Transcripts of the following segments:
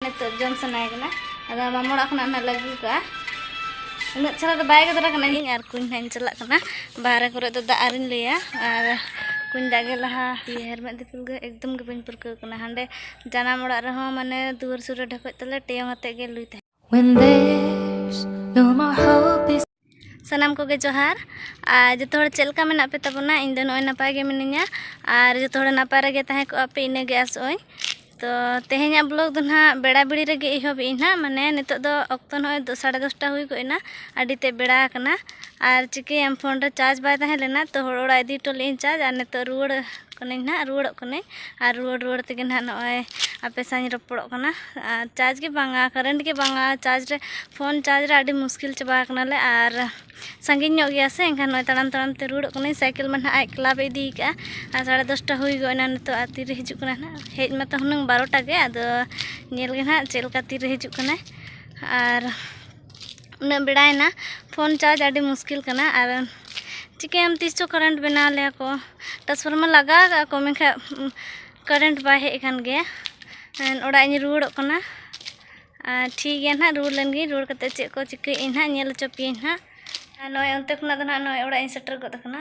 ᱱᱤᱛᱚᱜ ᱡᱚᱢ ᱥᱟᱱᱟᱭ ᱠᱟᱱᱟ ᱟᱫᱚ ᱢᱟᱢᱟ ᱚᱲᱟᱜ ᱠᱷᱚᱱᱟᱜ ᱱᱟᱜ ᱞᱟᱹᱜᱩ ᱠᱟᱜᱼᱟ ᱩᱱᱟᱹᱜ ᱪᱮᱦᱨᱟ ᱫᱚ ᱵᱟᱭ ᱜᱮᱫᱨᱟ ᱠᱟᱱᱟ ᱤᱧ ᱟᱨ ᱠᱩᱧ ᱱᱟᱜ ᱤᱧ ᱪᱟᱞᱟᱜ ᱠᱟᱱᱟ ᱵᱟᱦᱨᱮ ᱠᱚᱨᱮ ᱫᱚ ᱫᱟᱜ ᱟᱨᱤᱧ ᱞᱟᱹᱭᱟ ᱟᱨ ᱠᱩᱧ ᱫᱟᱜ ᱜᱮ ᱞᱟᱦᱟ ᱦᱮᱨᱢᱮᱫ ᱫᱤᱯᱤᱞ ᱜᱮ ᱮᱠᱫᱚᱢ ᱜᱮ ᱵᱟᱹᱧ ᱯᱟᱹᱨᱠᱟᱹᱣ ᱠᱟᱱᱟ ᱦᱟᱸᱰᱮ ᱡᱟᱱᱟᱢ ᱚᱲᱟᱜ ᱨᱮᱦᱚᱸ ᱢᱟᱱᱮ ᱫᱩᱣᱟᱹᱨ ᱥᱩᱨ ᱨᱮ ᱰᱷᱮᱠᱚᱡ ᱛᱟᱞᱮ ᱴᱮᱭᱚᱝ ᱟᱛᱮᱫ ᱜᱮ ᱞᱩᱭ ᱛᱟᱦᱮᱸ When there's no more hope ᱥᱟᱱᱟᱢ ᱠᱚᱜᱮ ᱡᱚᱦᱟᱨ ᱟᱨ ᱡᱚᱛᱚ ᱦᱚᱲ ᱪᱮᱫ ᱞᱮᱠᱟ ᱢᱮᱱᱟᱜ ᱯᱮ ᱛᱟᱵᱚᱱᱟ ᱤᱧ ᱫᱚ ᱱᱚᱜᱼᱚᱭ ᱱᱟᱯᱟᱭ ᱜᱮ ᱢᱤᱱᱟᱹᱧᱟ ᱟᱨ ᱡᱚᱛᱚ ᱦᱚᱲ ᱱᱟᱯᱟᱭ ᱨᱮᱜᱮ ᱛᱟᱦᱮᱸ ᱠᱚᱜᱼᱟ ᱯᱮ ᱤᱱᱟᱹᱜᱮ ᱟᱥᱚᱜᱼᱟᱹᱧ ᱛᱚ ᱛᱮᱦᱮᱧᱟᱜ ᱵᱞᱚᱜᱽ ᱫᱚ ᱱᱟᱦᱟᱜ ᱵᱮᱲᱟ ᱵᱮᱲᱤ ᱨᱮᱜᱮ ᱮᱦᱚᱵ ᱮᱫᱟᱹᱧ ᱱᱟᱦᱟᱜ ᱢᱟᱱᱮ ᱱᱤᱛᱚᱜ ᱫᱚ ᱚᱠᱛᱚ ᱱᱚᱜᱼᱚᱭ ᱥᱟᱲᱮ ᱫᱚᱥᱴᱟ ᱦᱩᱭ ᱜᱚᱫ ᱮᱱᱟ ᱟᱹᱰᱤ ᱛᱮᱫ ᱵᱮᱲᱟ ᱟᱠᱟᱱᱟ ᱟᱨ ᱪᱤᱠᱟᱹᱭᱟᱢ ᱯᱷᱳᱱ ᱨᱮ ᱪᱟᱨᱡᱽ ᱵᱟᱭ ᱛᱟᱦᱮᱸ ᱞᱮᱱᱟ ᱛᱚ ᱦᱚᱲ ᱚᱲᱟᱜ ᱤᱫᱤ ᱦᱚᱴᱚ ᱞᱮᱫᱟᱹᱧ ᱪᱟᱨᱡᱽ ᱟᱨ ᱱᱤᱛᱚᱜ ᱨᱩᱣᱟᱹᱲ ᱠᱟᱹᱱᱟᱹᱧ ᱱᱟᱦᱟᱜ ᱨᱩᱣᱟᱹᱲᱚᱜ ᱠᱟᱹᱱᱟᱹᱧ ᱟᱨ ᱨᱩᱣᱟᱹᱲ ᱨᱩᱣᱟᱹᱲ ᱛᱮᱜᱮ ᱱᱟᱦᱟᱜ ᱱᱚᱜᱼᱚᱭ ᱟᱯᱮ ᱥᱟᱶ ᱤᱧ ᱨᱚᱯᱚᱲᱚᱜ ᱠᱟᱱᱟ ᱟᱨ ᱪᱟᱨᱡᱽ ᱜᱮ ᱵᱟᱝᱟ ᱠᱟᱨᱮᱱᱴ ᱜᱮ ᱵᱟᱝᱟ ᱪᱟᱨᱡᱽ ᱨᱮ ᱯᱷᱳᱱ ᱪᱟᱨᱡᱽ ᱨᱮ ᱟᱹᱰᱤ ᱢᱩᱥᱠᱤᱞ ᱪᱟᱵᱟ ᱟᱠᱟᱱᱟᱞᱮ ᱟᱨ ᱥᱟᱺᱜᱤᱧ ᱧᱚᱜ ᱜᱮᱭᱟ ᱥᱮ ᱮᱱᱠᱷᱟᱱ ᱱᱚᱜᱼᱚᱭ ᱛᱟᱲᱟᱢ ᱛᱟᱲᱟᱢ ᱛᱮ ᱨᱩᱣᱟᱹᱲᱚᱜ ᱠᱟᱹᱱᱟᱹᱧ ᱥᱟᱭᱠᱮᱞ ᱢᱟ ᱱᱟᱦᱟᱜ ᱟᱡ ᱠᱞᱟᱵᱽ ᱮ ᱤᱫᱤ ᱠᱟᱜᱼᱟ ᱟᱨ ᱥᱟᱲᱮ ᱫᱚᱥᱴᱟ ᱦᱩᱭ ᱜᱚᱫ ᱮᱱᱟ ᱱᱤᱛᱚᱜ ᱟᱨ ᱛᱤᱨᱮ ᱦᱤᱡᱩᱜ ᱠᱟᱱᱟ ᱱᱟᱦᱟᱜ ᱦᱮᱡ ᱢᱟᱛᱚ ᱦᱩᱱᱟᱹᱝ ᱵᱟᱨᱚᱴᱟ ᱜᱮ ᱟᱫᱚ ᱧᱮᱞ ᱜᱮ ᱱᱟᱦᱟᱜ ᱪᱮᱫ ᱞᱮᱠᱟ ᱛᱤᱨᱮ ᱦᱤᱡᱩᱜ ᱠᱟᱱᱟᱭ ᱟᱨ ᱩᱱᱟᱹᱜ ᱵᱮᱲᱟᱭᱮᱱᱟ ᱯᱷᱳᱱ ᱪᱟᱨᱡᱽ ᱟᱹᱰᱤ ᱢᱩᱥᱠᱤᱞ ᱠᱟᱱᱟ ᱟᱨ ᱪᱤᱠᱟᱹᱭᱟᱢ ᱛᱤᱥ ᱪᱚ ᱠᱟᱨᱮᱱᱴ ᱵᱮᱱᱟᱣ ᱞᱮᱭᱟ ᱠᱚ ᱴᱨᱟᱱᱥᱯᱷᱚᱨᱢᱟᱨ ᱞᱟᱜᱟᱣ ᱠᱟᱜᱼᱟ ᱠᱚ ᱢᱮᱱᱠᱷᱟᱱ ᱠᱟᱨᱮᱱᱴ ᱵᱟᱭ ᱦᱮᱡ ᱟᱠᱟᱱ ᱜᱮᱭᱟ ᱚᱲᱟᱜ ᱤᱧ ᱨᱩᱣᱟᱹᱲᱚᱜ ᱠᱟᱱᱟ ᱟᱨ ᱴᱷᱤᱠ ᱜᱮᱭᱟ ᱱᱟᱦᱟᱜ ᱨᱩᱣᱟᱹᱲ ᱞᱮᱱ ᱜᱤᱧ ᱨᱩᱣᱟᱹᱲ ᱠᱟᱛᱮᱫ ᱪᱮᱫ ᱠᱚ ᱪᱤᱠᱟᱹᱭᱮᱫ ᱟᱹᱧ ᱱᱟᱦᱟᱜ ᱧᱮᱞ ᱦᱚᱪᱚ ᱯᱮᱭᱟᱹᱧ ᱱᱟᱦᱟᱜ ᱟᱨ ᱱᱚᱜᱼᱚᱭ ᱚᱱᱛᱮ ᱠᱷᱚᱱᱟᱜ ᱫᱚ ᱱᱟᱦᱟᱜ ᱱᱚᱜᱼᱚᱭ ᱚᱲᱟᱜ ᱤᱧ ᱥᱮᱴᱮᱨ ᱜᱚᱫ ᱟᱠᱟᱱᱟ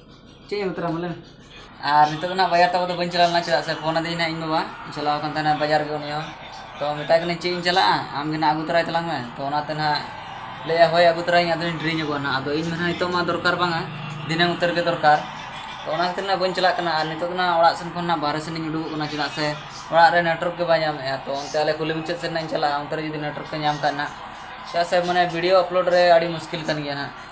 ᱪᱮᱫ ᱮᱢ ᱩᱛᱟᱹᱨᱟ ᱵᱚᱞᱮ ᱟᱨ ᱱᱤᱛᱚᱜ ᱫᱚ ᱱᱟᱦᱟᱜ ᱵᱟᱡᱟᱨ ᱛᱟᱵᱚ ᱫᱚ ᱵᱟᱹᱧ ᱪᱟᱞᱟᱣ ᱞᱮᱱᱟ ᱪᱮᱫᱟᱜ ᱥᱮ ᱯᱷᱳᱱ ᱟᱹᱫᱤᱧ ᱱᱟᱦᱟᱜ ᱤᱧ ᱵᱟᱵᱟ ᱪᱟᱞᱟᱣ ᱟᱠᱟᱱ ᱛᱟᱦᱮᱱᱟ ᱵᱟᱡᱟᱨ ᱜᱮ ᱩᱱᱤ ᱦᱚᱸ ᱛᱚ ᱢᱮᱛᱟᱭ ᱠᱟᱹᱱᱟᱹᱧ ᱪᱮᱫ ᱤᱧ ᱪᱟᱞᱟᱜᱼᱟ ᱟᱢ ᱜᱮ ᱱᱟᱦᱟᱜ ᱟᱹᱜᱩ ᱛᱚᱨᱟᱭ ᱛᱟᱞᱟᱝ ᱢᱮ ᱛᱚ ᱚᱱᱟᱛᱮ ᱱᱟᱦᱟᱜ ᱞᱟᱹᱭᱮᱫᱼᱟᱭ ᱦᱳᱭ ᱟᱹᱜᱩ ᱛᱚᱨᱟᱭᱟᱹᱧ ᱟᱫᱚᱧ ᱰᱮᱨᱤ ᱧᱚᱜᱚᱜᱼᱟ ᱱᱟᱦᱟᱜ ᱟᱫᱚ ᱤᱧ ᱢᱟ ᱱᱟᱦᱟᱜ ᱱᱤᱛᱚᱜ ᱢᱟ ᱫᱚᱨᱠᱟᱨ ᱵᱟᱝᱟ ᱫᱷᱤᱱᱟᱹᱱ ᱩᱛᱟᱹᱨ ᱜᱮ ᱫᱚᱨᱠᱟᱨ ᱛᱚ ᱚᱱᱟ ᱠᱷᱟᱹᱛᱤᱨ ᱱᱟᱦᱟᱜ ᱵᱟᱹᱧ ᱪᱟᱞᱟᱜ ᱠᱟᱱᱟ ᱟᱨ ᱱᱤᱛᱚᱜ ᱫᱚ ᱱᱟᱦᱟᱜ ᱚᱲᱟᱜ ᱥᱮᱱ ᱠᱷᱚᱱ ᱱᱟᱦᱟᱜ ᱵᱟᱦᱨᱮ ᱥᱮᱱᱤᱧ ᱩᱰᱩᱠᱚᱜ ᱠᱟᱱᱟ ᱪᱮᱫᱟᱜ ᱥᱮ ᱚᱲᱟᱜ ᱨᱮ ᱱᱮᱴᱣᱟᱨᱠ ᱜᱮ ᱵᱟᱭ ᱧᱟᱢᱮᱫᱼᱟ ᱛᱚ ᱚᱱᱛᱮ ᱟᱞᱮ ᱠᱩᱞᱦᱤ ᱢᱩᱪᱟᱹᱫ ᱥᱮᱫ ᱱᱟᱦᱟᱜ ᱤᱧ ᱪᱟᱞᱟᱜᱼᱟ ᱚᱱᱛᱮ ᱨᱮ ᱡᱩᱫᱤ ᱱᱮᱴᱣᱟᱨᱠ ᱮ ᱧᱟᱢ ᱠᱷᱟᱱ ᱱᱟᱦᱟᱜ ᱪᱮᱫᱟᱜ ᱥᱮ ᱢᱟᱱᱮ ᱵᱷᱤᱰᱭᱳ ᱟᱯᱞᱳᱰ ᱨᱮ ᱟᱹᱰᱤ ᱢᱩᱥᱠᱤᱞ ᱠᱟᱱ ᱜᱮᱭᱟ ᱱᱟᱦᱟᱜ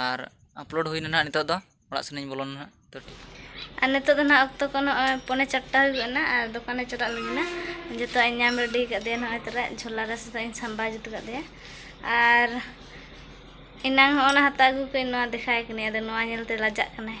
ᱟᱨ ᱟᱯᱞᱳᱰ ᱦᱩᱭᱱᱟ ᱱᱟᱦᱟᱜ ᱱᱤᱛᱚᱜ ᱫᱚ ᱚᱲᱟᱜ ᱥᱮᱱᱤᱧ ᱵᱚᱞᱚᱱᱟ ᱱᱟᱦᱟᱜ ᱛᱚ ᱴᱷᱤᱠ ᱟᱨ ᱱᱤᱛᱚᱜ ᱫᱚ ᱱᱟᱦᱟᱜ ᱚᱠᱛᱚ ᱠᱚ ᱱᱚᱜᱼᱚᱭ ᱯᱚᱱᱮ ᱪᱟᱨᱴᱟ ᱦᱩᱭᱩᱜ ᱠᱟᱱᱟ ᱟᱨ ᱫᱚᱠᱟᱱᱮ ᱪᱟᱞᱟᱜ ᱞᱟᱹᱜᱤᱫᱼᱟ ᱡᱚᱛᱚᱣᱟᱜ ᱤᱧ ᱧᱟᱢ ᱨᱮᱰᱤ ᱠᱟᱫᱮᱭᱟ ᱱᱚᱜᱼᱚᱭ ᱛᱟᱨᱟ ᱡᱷᱚᱞᱟ ᱨᱮ ᱥᱮᱛᱟᱜ ᱤᱧ ᱥᱟᱢᱵᱟᱣ ᱡᱩᱛ ᱠᱟᱫᱮᱭᱟ ᱟᱨ ᱮᱱᱟᱝ ᱦᱚᱸ ᱚᱱᱟ ᱦᱟᱛᱟᱣ ᱟᱹᱜᱩ ᱠᱟᱹᱧ ᱱᱚᱣᱟ ᱫᱮᱠᱷᱟᱭ ᱠᱟᱹᱱᱟᱹᱧ ᱟᱫᱚ ᱱᱚᱣᱟ ᱧᱮᱞᱛᱮ ᱞᱟᱡᱟᱜ ᱠᱟᱱᱟᱭ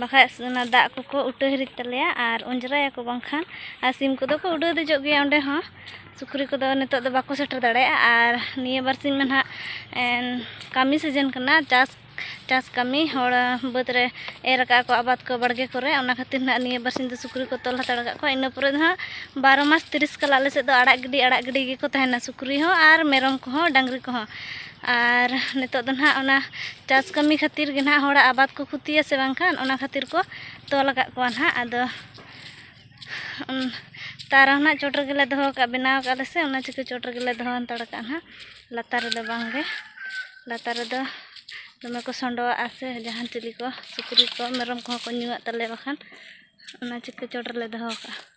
ᱵᱟᱠᱷᱟᱡ ᱚᱱᱟ ᱫᱟᱜ ᱠᱚᱠᱚ ᱩᱴᱟᱹ ᱦᱤᱨᱤᱡ ᱛᱟᱞᱮᱭᱟ ᱟᱨ ᱚᱸᱡᱽᱨᱟᱭᱟᱠᱚ ᱵᱟᱝᱠᱷᱟᱱ ᱟᱨ ᱥᱤᱢ ᱠᱚᱫᱚ ᱠᱚ ᱩᱰᱟᱹᱣ ᱫᱮᱡᱚᱜ ᱜᱮᱭᱟ ᱚᱸᱰᱮ ᱦᱚᱸ ᱥᱩᱠᱨᱤ ᱠᱚᱫᱚ ᱱᱤᱛᱚᱜ ᱫᱚ ᱵᱟᱠᱚ ᱥᱮᱴᱮᱨ ᱫᱟᱲᱮᱭᱟᱜᱼᱟ ᱟᱨ ᱱᱤᱭᱟᱹ ᱵᱟᱨ ᱥᱤᱧ ᱢᱟ ᱱᱟᱦᱟᱜ ᱠᱟᱹᱢᱤ ᱥᱤᱡᱮᱱ ᱠᱟᱱᱟ ᱪᱟᱥ ᱪᱟᱥ ᱠᱟᱹᱢᱤ ᱦᱚᱲ ᱵᱟᱹᱫᱽ ᱨᱮ ᱮᱨ ᱟᱠᱟᱫ ᱟᱠᱚ ᱟᱵᱟᱫᱽ ᱠᱚ ᱵᱟᱲᱜᱮ ᱠᱚᱨᱮ ᱚᱱᱟ ᱠᱷᱟᱹᱛᱤᱨ ᱱᱟᱦᱟᱜ ᱱᱤᱭᱟᱹ ᱵᱟᱨ ᱥᱤᱧ ᱫᱚ ᱥᱩᱠᱨᱤ ᱠᱚ ᱛᱚᱞ ᱦᱟᱛᱟᱲ ᱟᱠᱟᱫ ᱠᱚᱣᱟ ᱤᱱᱟᱹ ᱯᱚᱨᱮ ᱫᱚ ᱱᱟᱦᱟᱜ ᱵᱟᱨᱚ ᱢᱟᱥ ᱛᱤᱨᱤᱥ ᱠᱟᱞ ᱟᱞᱮ ᱥᱮᱫ ᱫᱚ ᱟᱲᱟᱜ ᱜᱤᱰᱤ ᱟᱲᱟᱜ ᱜᱤᱰᱤ ᱜᱮᱠᱚ ᱛᱟᱦᱮᱱᱟ ᱥᱩᱠᱨᱤ ᱦᱚᱸ ᱟᱨ ᱢᱮᱨᱚᱢ ᱠᱚᱦᱚᱸ ᱰᱟᱝᱨᱤ ᱠᱚᱦᱚᱸ ᱟᱨ ᱱᱤᱛᱚᱜ ᱫᱚ ᱱᱟᱦᱟᱜ ᱚᱱᱟ ᱪᱟᱥ ᱠᱟᱹᱢᱤ ᱠᱷᱟᱹᱛᱤᱨ ᱜᱮ ᱱᱟᱦᱟᱜ ᱦᱚᱲᱟᱜ ᱟᱵᱟᱫᱽ ᱠᱚ ᱠᱷᱚᱛᱤᱭᱟ ᱥᱮ ᱵᱟᱝᱠᱷᱟᱱ ᱚᱱᱟ ᱠᱷᱟᱹᱛᱤᱨ ᱠᱚ ᱛᱚᱞ ᱟᱠᱟᱫ ᱠᱚᱣᱟ ᱱᱟᱦᱟᱜ ᱟᱫᱚ ᱛᱟᱣ ᱨᱮᱦᱚᱸ ᱱᱟᱦᱟᱜ ᱪᱚᱴ ᱨᱮᱜᱮ ᱞᱮ ᱫᱚᱦᱚ ᱟᱠᱟᱫᱼᱟ ᱵᱮᱱᱟᱣ ᱟᱠᱟᱫ ᱟᱞᱮ ᱥᱮ ᱚᱱᱟ ᱪᱤᱠᱟᱹ ᱪᱚᱴ ᱨᱮᱜᱮ ᱞᱮ ᱫᱚᱦᱚ ᱦᱟᱱᱛᱟᱲ ᱟᱠᱟᱫᱼᱟ ᱱᱟᱦᱟᱜ ᱞᱟᱛᱟᱨ ᱨᱮᱫᱚ ᱵᱟᱝ ᱜᱮ ᱞᱟᱛᱟᱨ ᱨᱮᱫᱚ ᱫᱚᱢᱮ ᱠᱚ ᱥᱚᱰᱚᱜᱼᱟ ᱥᱮ ᱡᱟᱦᱟᱱ ᱪᱤᱞᱤ ᱠᱚ ᱥᱩᱠᱨᱤ ᱠᱚ ᱢᱮᱨᱚᱢ ᱠᱚᱦᱚᱸ ᱠᱚ ᱧᱩᱣᱟᱜ ᱛᱟᱞᱮᱭᱟ ᱵᱟᱠᱷᱟᱱ ᱚᱱᱟ ᱪᱤᱠᱟᱹ ᱪᱚᱴ ᱨᱮᱞᱮ ᱫᱚᱦᱚ ᱟᱠᱟᱫᱼᱟ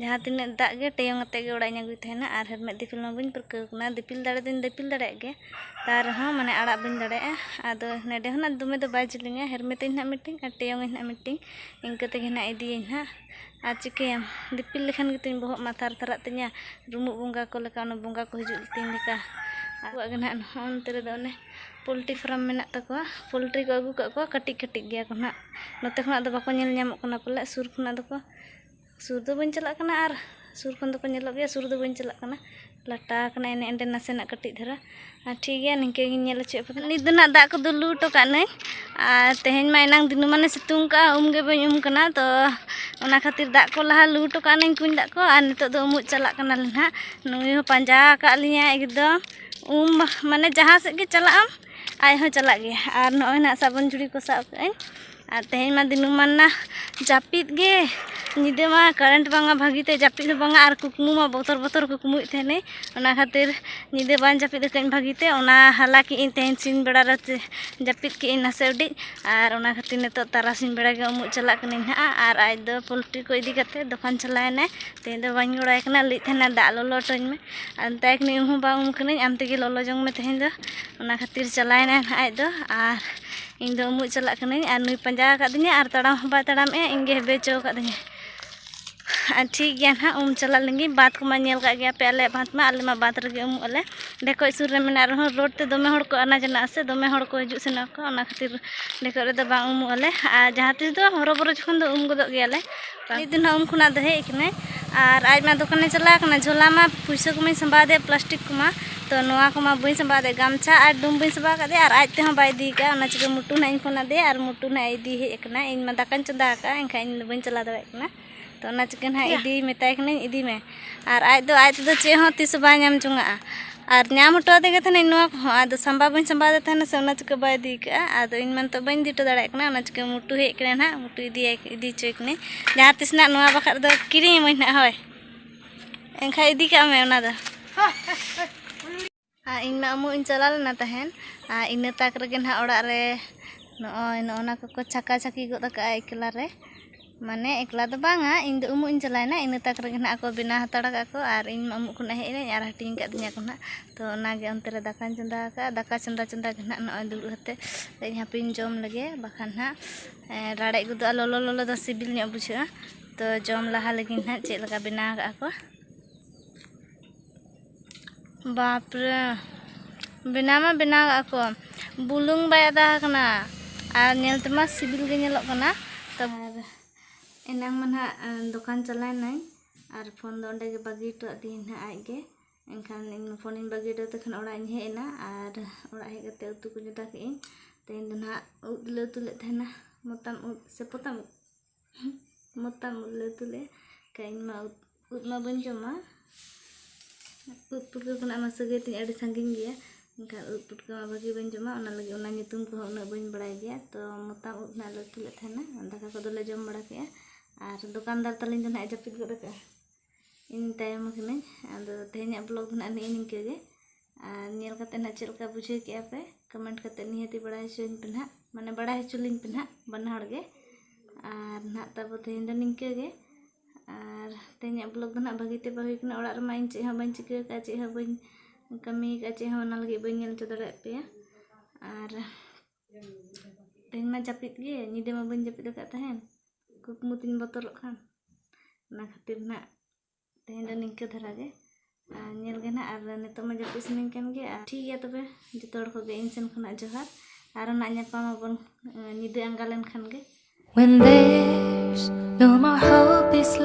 ᱡᱟᱦᱟᱸ ᱛᱤᱱᱟᱹᱜ ᱫᱟᱜ ᱜᱮ ᱴᱮᱭᱚᱝ ᱟᱛᱮᱫ ᱜᱮ ᱚᱲᱟᱜ ᱤᱧ ᱟᱹᱜᱩᱭ ᱛᱟᱦᱮᱱᱟ ᱟᱨ ᱦᱮᱨᱢᱮᱫ ᱫᱤᱯᱤᱞ ᱢᱟ ᱵᱟᱹᱧ ᱯᱟᱹᱨᱠᱟᱹᱣ ᱠᱟᱱᱟ ᱫᱤᱯᱤᱞ ᱫᱟᱲᱮ ᱫᱚᱧ ᱫᱤᱯᱤᱞ ᱫᱟᱲᱮᱭᱟᱜ ᱜᱮᱭᱟ ᱛᱟᱣ ᱨᱮᱦᱚᱸ ᱢᱟᱱᱮ ᱟᱲᱟᱜ ᱵᱟᱹᱧ ᱫᱟᱲᱮᱭᱟᱜᱼᱟ ᱟᱫᱚ ᱱᱚᱸᱰᱮ ᱦᱚᱸ ᱱᱟᱜ ᱫᱚᱢᱮ ᱫᱚ ᱵᱟᱭ ᱡᱤᱞᱤᱧᱟ ᱦᱮᱨᱢᱮᱫ ᱟᱹᱧ ᱱᱟᱜ ᱢᱤᱫᱴᱤᱱ ᱟᱨ ᱴᱮᱭᱚᱝ ᱟᱹᱧ ᱱᱟᱜ ᱢᱤᱫᱴᱤᱱ ᱤᱱᱠᱟᱹ ᱛᱮᱜᱮ ᱱᱟᱜ ᱤᱫᱤᱭᱟᱹᱧ ᱦᱟᱸᱜ ᱟᱨ ᱪᱤᱠᱟᱹᱭᱟᱢ ᱫᱤᱯᱤᱞ ᱞᱮᱠᱷᱟᱱ ᱜᱮᱛᱤᱧ ᱵᱚᱦᱚᱜ ᱢᱟ ᱛᱷᱟᱨ ᱛᱷᱟᱨᱟᱜ ᱛᱤᱧᱟᱹ ᱨᱩᱢᱩᱜ ᱵᱚᱸᱜᱟ ᱠᱚ ᱞᱮᱠᱟ ᱚᱱᱟ ᱵᱚᱸᱜᱟ ᱠᱚ ᱦᱤᱡᱩᱜ ᱛᱤᱧ ᱞᱮᱠᱟ ᱟᱵᱚᱣᱟᱜ ᱜᱮ ᱱᱟᱜ ᱱᱚᱜᱼᱚ ᱱᱚᱛᱮ ᱨᱮᱫᱚ ᱚᱱᱮ ᱯᱳᱞᱴᱨᱤ ᱯᱷᱨᱟᱢ ᱢᱮᱱᱟᱜ ᱛᱟᱠᱚᱣᱟ ᱯᱳᱞᱴᱨᱤ ᱠᱚ ᱟᱹᱜᱩ ᱠᱟᱜ ᱠᱚᱣᱟ ᱠᱟᱹᱴᱤᱡ ᱠᱟᱹᱴᱤᱡ ᱜᱮᱭᱟ ᱠᱚ ᱱᱟᱜ ᱱᱚᱛᱮ ᱠᱷᱚᱱᱟᱜ ᱫᱚ ᱵᱟᱠᱚ ᱧᱮᱞ ᱧᱟᱢᱚᱜ ᱠᱟᱱᱟ ᱯᱟᱞᱮᱫ ᱥᱩᱨ ᱠᱷᱚᱱᱟᱜ ᱫᱚᱠᱚ ᱥᱩᱨ ᱫᱚ ᱵᱟᱹᱧ ᱪᱟᱞᱟᱜ ᱠᱟᱱᱟ ᱟᱨ ᱥᱩᱨ ᱠᱷᱚᱱ ᱫᱚᱠᱚ ᱧᱮᱞᱚᱜ ᱜᱮᱭᱟ ᱥᱩᱨ ᱫᱚ ᱵᱟᱹᱧ ᱪᱟᱞᱟᱜ ᱠᱟᱱᱟ ᱞᱟᱴᱟ ᱟᱠᱟᱱᱟ ᱮᱱᱮ ᱮᱸᱰᱮ ᱱᱟᱥᱮᱱᱟᱜ ᱠᱟᱹᱴᱤᱡ ᱫᱷᱟᱨᱟ ᱟᱨ ᱴᱷᱤᱠ ᱜᱮᱭᱟ ᱱᱤᱝᱠᱟᱹ ᱜᱤᱧ ᱧᱮᱞ ᱦᱚᱪᱚᱭᱮᱫ ᱯᱮ ᱛᱟᱦᱮᱱᱟ ᱱᱤᱛ ᱫᱚ ᱱᱟᱦᱟᱜ ᱫᱟᱜ ᱠᱚ ᱫᱩᱞ ᱞᱩ ᱦᱚᱴᱚ ᱠᱟᱜ ᱱᱟᱹᱧ ᱟᱨ ᱛᱮᱦᱮᱧ ᱢᱟ ᱮᱱᱟᱝ ᱫᱤᱱᱟᱹᱢᱟᱱᱮ ᱥᱤᱛᱩᱝ ᱠᱟᱜᱼᱟ ᱩᱢ ᱜᱮ ᱵᱟᱹᱧ ᱩᱢ ᱠᱟᱱᱟ ᱛᱚ ᱚᱱᱟ ᱠᱷᱟᱹᱛᱤᱨ ᱫᱟᱜ ᱠᱚ ᱞᱟᱦᱟ ᱞᱩ ᱦᱚᱴᱚ ᱠᱟᱜ ᱱᱟᱹᱧ ᱠᱩᱧ ᱫᱟᱜ ᱠᱚ ᱟᱨ ᱱᱤᱛᱚᱜ ᱫᱚ ᱩᱢᱩᱜ ᱪᱟᱞᱟᱜ ᱠᱟᱱᱟᱞᱮ ᱱᱟᱦᱟᱜ ᱱᱩᱭ ᱦᱚᱸ ᱯᱟᱸᱡᱟ ᱟᱠᱟᱫ ᱞᱤᱧᱟᱹ ᱮᱠᱫᱚᱢ ᱩᱢ ᱢᱟᱱᱮ ᱡᱟᱦᱟᱸ ᱥᱮᱫ ᱜᱮ ᱪᱟᱞᱟᱜ ᱟᱢ ᱟᱡ ᱦᱚᱸ ᱪᱟᱞᱟᱜ ᱜᱮᱭᱟᱭ ᱟᱨ ᱱᱚᱜᱼᱚᱭ ᱱᱟᱦᱟᱜ ᱥᱟᱵᱚᱱ ᱡᱷᱩᱲᱤ ᱠᱚ ᱥᱟᱵ ᱠᱟᱜ ᱟᱹᱧ ᱟᱨ ᱛᱮᱦᱮᱧ ᱢᱟ ᱫᱤᱱᱟᱹᱢᱟᱱ ᱱᱟ ᱡᱟᱹᱯᱤᱫ ᱜᱮ ᱧᱤᱫᱟᱹ ᱢᱟ ᱠᱟᱨᱮᱱᱴ ᱵᱟᱝᱟ ᱵᱷᱟᱹᱜᱤᱛᱮ ᱡᱟᱹᱯᱤᱫ ᱦᱚᱸ ᱵᱟᱝᱟ ᱟᱨ ᱠᱩᱠᱢᱩ ᱢᱟ ᱵᱚᱛᱚᱨ ᱵᱚᱛᱚᱨ ᱠᱩᱠᱢᱩᱭᱮᱫ ᱛᱟᱦᱮᱱᱟᱹᱧ ᱚᱱᱟ ᱠᱷᱟᱹᱛᱤᱨ ᱧᱤᱫᱟᱹ ᱵᱟᱝ ᱡᱟᱹᱯᱤᱫ ᱟᱠᱟᱫᱟᱹᱧ ᱵᱷᱟᱹᱜᱤᱛᱮ ᱚᱱᱟ ᱦᱟᱞᱟ ᱠᱮᱫ ᱟᱹᱧ ᱛᱮᱦᱮᱧ ᱥᱤᱧ ᱵᱮᱲᱟ ᱨᱮ ᱡᱟᱹᱯᱤᱫ ᱠᱮᱫ ᱟᱹᱧ ᱱᱟᱥᱮ ᱩᱰᱤᱡ ᱟᱨ ᱚᱱᱟ ᱠᱷᱟᱹᱛᱤᱨ ᱱᱤᱛᱚᱜ ᱛᱟᱨᱟᱥᱤᱧ ᱵᱮᱲᱟ ᱜᱮ ᱩᱢᱩᱜ ᱪᱟᱞᱟᱜ ᱠᱟᱹᱱᱟᱹᱧ ᱦᱟᱸᱜ ᱟᱨ ᱟᱡ ᱫᱚ ᱯᱳᱞᱴᱨᱤ ᱠᱚ ᱤᱫᱤ ᱠᱟᱛᱮᱫ ᱫᱚᱠᱟᱱ ᱪᱟᱞᱟᱣ ᱮᱱᱟᱭ ᱛᱮᱦᱮᱧ ᱫᱚ ᱵᱟᱹᱧ ᱜᱚᱲᱚᱣᱟᱭ ᱠᱟᱱᱟ ᱞᱟᱹᱭᱮᱫ ᱛᱟᱦᱮᱱᱟᱭ ᱫᱟᱜ ᱞᱚᱞᱚ ᱦᱚᱴᱚᱣᱟᱹᱧ ᱢᱮ ᱟᱨ ᱢᱮᱛᱟᱭ ᱠᱟᱹᱱᱟᱹᱧ ᱩᱢ ᱦᱚᱸ ᱵᱟᱝ ᱩᱢ ᱠᱟᱹᱱᱟᱹᱧ ᱟᱢ ᱛᱮᱜᱮ ᱞᱚᱞᱚ ᱡᱚᱝ ᱢᱮ ᱛᱮᱦᱮᱧ ᱫᱚ ᱚᱱᱟ ᱠᱷᱟᱹᱛᱤᱨ ᱪᱟᱞᱟᱣ ᱮᱱᱟᱭ ᱦᱟᱸᱜ ᱟᱡ ᱫᱚ ᱟᱨ ᱤᱧ ᱫᱚ ᱩᱢᱩᱜ ᱪᱟᱞᱟᱜ ᱠᱟᱹᱱᱟᱹᱧ ᱟᱨ ᱱᱩᱭ ᱯᱟᱸᱡᱟ ᱟᱠᱟᱫᱤᱧᱟ ᱟᱨ ᱛᱟᱲᱟᱢ ᱦᱚᱸ ᱵᱟᱭ ᱛᱟᱲᱟᱢᱮᱜᱼᱟ ᱤᱧ ᱜᱮ ᱦᱮᱵᱮ ᱦᱚᱪᱚ ᱟᱠᱟᱫᱤᱧᱟ ᱟᱨ ᱴᱷᱤᱠ ᱜᱮᱭᱟ ᱱᱟᱦᱟᱜ ᱩᱢ ᱪᱟᱞᱟᱜ ᱞᱮᱱᱜᱮ ᱵᱟᱸᱫᱽ ᱠᱚᱢᱟ ᱧᱮᱞ ᱠᱟᱜ ᱜᱮᱭᱟ ᱯᱮ ᱟᱞᱮᱭᱟᱜ ᱵᱟᱸᱫᱽ ᱢᱟ ᱟᱞᱮ ᱢᱟ ᱵᱟᱸᱫᱽ ᱨᱮᱜᱮ ᱩᱢᱩᱜ ᱟᱞᱮ ᱰᱷᱮᱠᱚᱡ ᱥᱩᱨ ᱨᱮ ᱢᱮᱱᱟᱜ ᱨᱮᱦᱚᱸ ᱨᱳᱰ ᱛᱮ ᱫᱚᱢᱮ ᱦᱚᱲ ᱠᱚ ᱟᱱᱟ ᱡᱟᱱᱟᱜ ᱟᱥᱮ ᱫᱚᱢᱮ ᱦᱚᱲ ᱠᱚ ᱦᱤᱡᱩᱜ ᱥᱮᱱᱚᱜ ᱟᱠᱚ ᱚᱱᱟ ᱠᱷᱟᱹᱛᱤᱨ ᱰᱷᱮᱠᱚᱡ ᱨᱮᱫᱚ ᱵᱟᱝ ᱩᱢᱩᱜ ᱟᱞᱮ ᱟᱨ ᱡᱟᱦᱟᱸ ᱛᱤᱥ ᱫᱚ ᱦᱚᱨᱚ ᱵᱚᱨᱚ ᱡᱚᱠᱷᱚᱱ ᱫᱚ ᱩᱢ ᱜᱚᱫᱚᱜ ᱜᱮᱭᱟᱞᱮ ᱱᱤᱛ ᱫᱚ ᱱᱟᱜ ᱩᱱ ᱠᱷᱚᱱᱟᱜ ᱫᱚ ᱦᱮᱡ ᱠᱟᱱᱟᱭ ᱟᱨ ᱟᱡ ᱢᱟ ᱫᱚᱠᱟᱱᱮ ᱪᱟᱞᱟᱣ ᱠᱟᱱᱟ ᱡᱷᱚᱞᱟ ᱢᱟ ᱯᱩᱭᱥᱟᱹ ᱠᱚᱢᱟᱧ ᱥᱟᱢᱵᱟᱣ ᱟᱫᱮᱭᱟ ᱯᱞᱟᱥᱴᱤᱠ ᱠᱚᱢᱟ ᱛᱚ ᱱᱚᱣᱟ ᱠᱚᱢᱟ ᱵᱟᱹᱧ ᱥᱟᱢᱵᱟᱣ ᱟᱫᱮᱭᱟ ᱜᱟᱢᱪᱷᱟ ᱟᱨ ᱰᱩᱢ ᱵᱟᱹᱧ ᱥᱟᱢᱵᱟᱣ ᱟᱠᱟᱫᱮᱭᱟ ᱟᱨ ᱟᱡ ᱛᱮᱦᱚᱸ ᱵᱟᱭ ᱤᱫᱤ ᱟᱠᱟᱫᱼᱟ ᱚᱱᱟ ᱪᱤᱠᱟᱹ ᱢᱩᱴᱩ ᱱᱟᱜ ᱤᱧ ᱯᱷᱳᱱ ᱟᱫᱮᱭᱟ ᱟᱨ ᱢᱩᱴᱩ ᱱᱟᱜ ᱮ ᱤᱫᱤ ᱦᱮᱡ ᱟᱠᱟᱱᱟ ᱤᱧ ᱢᱟ ᱫᱟᱠᱟᱧ ᱪᱚᱸᱫᱟ ᱟᱠᱟᱫᱼᱟ ᱮᱱᱠᱷᱟᱱ ᱤᱧ ᱫᱚ ᱵᱟᱹᱧ ᱪᱟᱞᱟᱣ ᱫᱟᱲᱮᱭᱟᱜ ᱠᱟᱱᱟ ᱛᱚ ᱚᱱᱟ ᱪᱤᱠᱟᱹ ᱱᱟᱜ ᱤᱫᱤ ᱢᱮᱛᱟᱭ ᱠᱟᱹᱱᱟᱹᱧ ᱤᱫᱤ ᱢᱮ ᱟᱨ ᱟᱡ ᱫᱚ ᱟᱡ ᱛᱮᱫᱚ ᱪᱮᱫ ᱦᱚᱸ ᱛᱤᱥ ᱦᱚᱸ ᱵᱟᱭ ᱧᱟᱢ ᱡᱚᱝᱟᱜᱼᱟ ᱟᱨ ᱧᱟᱢ ᱦᱚᱴᱚ ᱟᱫᱮ ᱜᱮ ᱛᱟᱦᱮᱱᱟᱹᱧ ᱱᱚᱣᱟ ᱠᱚᱦᱚᱸ ᱟᱫᱚ ᱥᱟᱢᱵᱟᱣ ᱵᱟᱹᱧ ᱥᱟᱢᱵᱟᱣ ᱟᱫᱮ ᱛᱟᱦᱮᱱᱟ ᱥᱮ ᱚᱱᱟ ᱪᱤᱠᱟᱹ ᱵᱟᱭ ᱤᱫᱤ ᱠᱟᱜᱼᱟ ᱟᱫᱚ ᱤᱧ ᱢᱟ ᱱᱤᱛᱚᱜ ᱵᱟᱹᱧ ᱤᱫᱤ ᱦᱚᱴᱚ ᱫᱟᱲᱮᱭᱟᱜ ᱠᱟᱱᱟ ᱚᱱᱟ ᱪᱤᱠᱟᱹ ᱢᱩᱴᱩ ᱦᱮᱡ ᱠᱟᱱᱟᱭ ᱱᱟᱦᱟᱜ ᱢᱩᱴᱩ ᱤᱫᱤᱭᱟᱭ ᱤᱫᱤ ᱦᱚᱪᱚᱭᱮ ᱠᱟᱹᱱᱟᱹᱧ ᱡᱟᱦᱟᱸ ᱛᱤᱥ ᱱᱟᱦᱟᱜ ᱱᱚᱣᱟ ᱵᱟᱠᱷᱨᱟ ᱫᱚ ᱠᱤᱨᱤᱧ ᱟᱹᱢᱟᱹᱧ ᱱᱟᱦᱟᱜ ᱦᱳᱭ ᱮᱱᱠᱷᱟᱱ ᱤᱫᱤ ᱠᱟᱜ ᱢᱮ ᱚᱱᱟ ᱫᱚ ᱤᱧ ᱢᱟ ᱩᱢᱩᱜ ᱤᱧ ᱪᱟᱞᱟᱣ ᱞᱮᱱᱟ ᱛᱟᱦᱮᱸᱫ ᱟᱨ ᱤᱱᱟᱹ ᱛᱟᱠ ᱨᱮᱜᱮ ᱱᱟᱦᱟᱜ ᱚᱲᱟᱜ ᱨᱮ ᱱᱚᱜᱼᱚᱭ ᱱᱚᱜᱼᱱᱟ ᱠᱚᱠᱚ ᱪᱷᱟᱠᱟ ᱪᱷᱟᱹᱠᱤ ᱜᱚᱫ ᱠᱟᱜᱼᱟ ᱮᱠᱞᱟ ᱨᱮ ᱢᱟᱱᱮ ᱮᱠᱞᱟ ᱫᱚ ᱵᱟᱝᱟ ᱤᱧ ᱫᱚ ᱩᱢᱩᱜ ᱤᱧ ᱪᱟᱞᱟᱣᱮᱱᱟ ᱤᱱᱟᱹ ᱛᱟᱠ ᱨᱮᱜᱮ ᱱᱟᱦᱟᱜ ᱠᱚ ᱵᱮᱱᱟᱣ ᱦᱟᱛᱟᱲ ᱠᱟᱜᱼᱟ ᱠᱚ ᱟᱨ ᱤᱧ ᱢᱟ ᱩᱢᱩᱜ ᱠᱷᱚᱱᱟᱜ ᱦᱮᱡ ᱮᱱᱟᱹᱧ ᱟᱨ ᱦᱟᱹᱴᱤᱧ ᱠᱟᱜ ᱫᱤᱧᱟᱹ ᱠᱚ ᱱᱟᱦᱟᱜ ᱛᱚ ᱚᱱᱟ ᱜᱮ ᱚᱱᱛᱮ ᱨᱮ ᱫᱟᱠᱟᱧ ᱪᱚᱸᱫᱟ ᱠᱟᱜᱼᱟ ᱫᱟᱠᱟ ᱪᱚᱸᱫᱟ ᱪᱚᱸᱫᱟ ᱜᱮ ᱱᱟᱦᱟᱜ ᱱᱚᱜᱼᱚᱭ ᱫᱩᱲᱩᱵ ᱠᱟᱛᱮᱫ ᱤᱧ ᱦᱟᱯᱮᱧ ᱡᱚᱢ ᱞᱮᱜᱮ ᱵᱟᱠᱷᱟᱱ ᱱᱟᱦᱟᱜ ᱨᱟᱲᱮᱡ ᱜᱚᱫᱚᱜᱼᱟ ᱞᱚᱞᱚ ᱞᱚᱞᱚ ᱫᱚ ᱥᱤᱵᱤᱞ ᱧᱚᱜ ᱵᱩᱡᱷᱟᱹᱜᱼᱟ ᱛᱚ ᱡᱚᱢ ᱞᱟᱦᱟ ᱞᱮᱜᱮᱧ ᱱᱟᱦᱟᱜ ᱪᱮᱫ ᱞᱮᱠᱟ ᱵᱮᱱᱟᱣ ᱠᱟᱜᱼᱟ ᱠᱚ ᱵᱟᱯᱨᱮ ᱵᱮᱱᱟᱣ ᱢᱟ ᱵᱮᱱᱟᱣ ᱠᱟᱜ ᱠᱚ ᱵᱩᱞᱩᱝ ᱵᱟᱭ ᱟᱫᱟ ᱟᱠᱟᱱᱟ ᱟᱨ ᱧᱮᱞ ᱛᱮᱢᱟ ᱥᱤᱵᱤᱞ ᱜᱮ ᱧᱮᱞᱚᱜ ᱠᱟᱱᱟ ᱛᱚ ᱮᱱᱟᱝ ᱢᱟ ᱱᱟᱜ ᱫᱚᱠᱟᱱ ᱪᱟᱞᱟᱣᱱᱟᱹᱧ ᱟᱨ ᱯᱷᱳᱱ ᱫᱚ ᱚᱸᱰᱮ ᱜᱮ ᱵᱟᱹᱜᱤ ᱦᱚᱴᱚ ᱟᱹᱫᱤᱧ ᱱᱟᱜ ᱟᱡ ᱜᱮ ᱮᱱᱠᱷᱟᱱ ᱤᱧ ᱯᱷᱳᱱᱤᱧ ᱵᱟᱹᱜᱤ ᱦᱚᱴᱚ ᱟᱫᱮ ᱠᱷᱟᱱ ᱚᱲᱟᱜ ᱤᱧ ᱦᱮᱡ ᱮᱱᱟ ᱟᱨ ᱚᱲᱟᱜ ᱦᱮᱡ ᱠᱟᱛᱮ ᱩᱛᱩ ᱠᱚ ᱪᱚᱸᱫᱟ ᱠᱮᱫᱟᱹᱧ ᱛᱮᱦᱮᱧ ᱫᱚ ᱱᱟᱜ ᱩᱫ ᱞᱮ ᱩᱛᱩ ᱞᱮᱫ ᱛᱟᱦᱮᱱᱟ ᱢᱚᱛᱟᱢ ᱩᱫ ᱥᱮ ᱯᱚᱛᱟᱢ ᱩᱫ ᱢᱚᱛᱟᱢ ᱩᱫ ᱞᱮ ᱩᱛᱩ ᱞᱮᱫᱼᱟ ᱮᱱᱠᱷᱟᱱ ᱤᱧ ᱢᱟ ᱩᱫ ᱢᱟ ᱵᱟᱹᱧ ᱡᱚᱢᱟ ᱩᱫ ᱯᱩᱴᱠᱟᱹ ᱠᱷᱚᱱᱟᱜ ᱢᱟ ᱥᱟᱹᱜᱟᱹᱭ ᱛᱤᱧ ᱟᱹᱰᱤ ᱥᱟᱺᱜᱤᱧ ᱜᱮᱭᱟ ᱮᱱᱠᱷᱟᱱ ᱩᱫ ᱯᱩᱴᱠᱟᱹ ᱢᱟ ᱵᱷᱟᱹᱜᱤ ᱵᱟᱹᱧ ᱡᱚᱢᱟ ᱚᱱᱟ ᱞᱟᱹᱜᱤᱫ ᱚᱱᱟ ᱧᱩᱛᱩᱢ ᱠᱚᱦᱚᱸ ᱩᱱᱟᱹᱜ ᱵᱟᱹᱧ ᱵᱟᱲᱟᱭ ᱜᱮᱭᱟ ᱛᱚ ᱢᱚᱛᱟᱢ ᱩᱫ ᱱᱟᱦᱟᱜ ᱞᱮ ᱩᱛᱩ ᱞᱮᱫ ᱛᱟᱦᱮᱱᱟ ᱫᱟᱠᱟ ᱠᱚᱫᱚ ᱞᱮ ᱡᱚᱢ ᱵᱟᱲᱟ ᱠᱮᱫᱼᱟ ᱟᱨ ᱫᱚᱠᱟᱱᱫᱟᱨ ᱛᱟᱹᱞᱤᱧ ᱫᱚ ᱱᱟᱦᱟᱜ ᱡᱟᱹᱯᱤᱫ ᱜᱚᱫ ᱟᱠᱟᱫᱼᱟ ᱤᱧ ᱛᱟᱭᱚᱢ ᱟᱠᱟᱱᱟᱹᱧ ᱟᱫᱚ ᱛᱮᱦᱮᱧᱟᱜ ᱵᱞᱚᱜᱽ ᱫᱚ ᱱᱟᱦᱟᱜ ᱱᱮᱜᱼᱮ ᱱᱤᱝᱠᱟᱹ ᱜᱮ ᱟᱨ ᱧᱮᱞ ᱠᱟᱛᱮ ᱱᱟᱦᱟᱜ ᱪᱮᱫ ᱞᱮᱠᱟ ᱵᱩᱡᱷᱟᱹᱣ ᱠᱮᱜᱼᱟ ᱯᱮ ᱠᱚᱢᱮᱱᱴ ᱠᱟᱛᱮ ᱱᱤᱦᱟᱹᱛᱤ ᱵᱟᱲᱟᱭ ᱦᱚᱪᱚᱧ ᱯᱮ ᱱᱟᱦᱟᱜ ᱢᱟᱱᱮ ᱵᱟᱲᱟᱭ ᱦᱚᱪᱚ ᱞᱤᱧ ᱯᱮ ᱱᱟᱦᱟᱜ ᱵᱟᱱᱟ ᱦᱚᱲ ᱜᱮ ᱟᱨ ᱱᱟᱦᱟᱜ ᱛᱟᱵᱚ ᱛᱮᱦᱮᱧ ᱫᱚ ᱱᱤᱝᱠᱟᱹ ᱜᱮ ᱟᱨ ᱛᱮᱦᱮᱧᱟᱜ ᱵᱞᱚᱜᱽ ᱫᱚ ᱱᱟᱦᱟᱜ ᱵᱷᱟᱹᱜᱤ ᱛᱮ ᱵᱟᱝ ᱦᱩᱭ ᱠᱟᱱᱟ ᱚᱲᱟᱜ ᱨᱮᱢᱟ ᱤᱧ ᱪᱮᱫ ᱦᱚᱸ ᱵᱟᱹᱧ ᱪᱤᱠᱟᱹ ᱟᱠᱟᱫᱼᱟ ᱪᱮᱫ ᱦᱚᱸ ᱵᱟᱹᱧ ᱠᱟᱹᱢᱤ ᱟᱠᱟᱫᱼᱟ ᱪᱮᱫ ᱦᱚᱸ ᱚᱱᱟ ᱞᱟᱹᱜᱤᱫ ᱵᱟᱹᱧ ᱧᱮᱞ ᱦᱚᱪᱚ ᱫᱟᱲᱮᱭᱟᱜ ᱯᱮᱭᱟ ᱟᱨ ᱛᱮᱦᱮᱧ ᱢᱟ ᱡᱟᱹᱯᱤᱫ ᱜᱮ ᱧᱤᱫᱟᱹ ᱢᱟ ᱵᱟᱹᱧ ᱡᱟᱹᱯᱤᱫ ᱟᱠᱟᱫ ᱛᱟᱦᱮᱱ ᱠᱩᱠᱢᱩ ᱛᱤᱧ ᱵᱚᱛᱚᱨᱚᱜ ᱠᱟᱱ ᱚᱱᱟ ᱠᱷᱟᱹᱛᱤᱨ ᱱᱟᱦᱟᱜ ᱛᱮᱦᱮᱧ ᱫᱚ ᱱᱤᱝᱠᱟᱹ ᱫᱷᱟᱨᱟ ᱜᱮ ᱧᱮᱞ ᱜᱮ ᱱᱟᱜ ᱟᱨ ᱱᱤᱛᱚᱜ ᱢᱟ ᱡᱟᱹᱯᱤᱫ ᱥᱟᱱᱟᱧ ᱠᱟᱱ ᱜᱮ ᱟᱨ ᱴᱷᱤᱠ ᱜᱮᱭᱟ ᱛᱚᱵᱮ ᱡᱚᱛᱚ ᱦᱚᱲ ᱠᱚᱜᱮ ᱤᱧ ᱥᱮᱱ ᱠᱷᱚᱱᱟᱜ ᱡᱚᱦᱟᱨ ᱟᱨᱚ ᱱᱟᱜ ᱧᱟᱯᱟᱢ ᱟᱵᱚᱱ ᱧᱤᱫᱟᱹ ᱟᱸᱜᱟ ᱞᱮᱱᱠᱷᱟᱱ ᱜᱮ When there's no more hope is left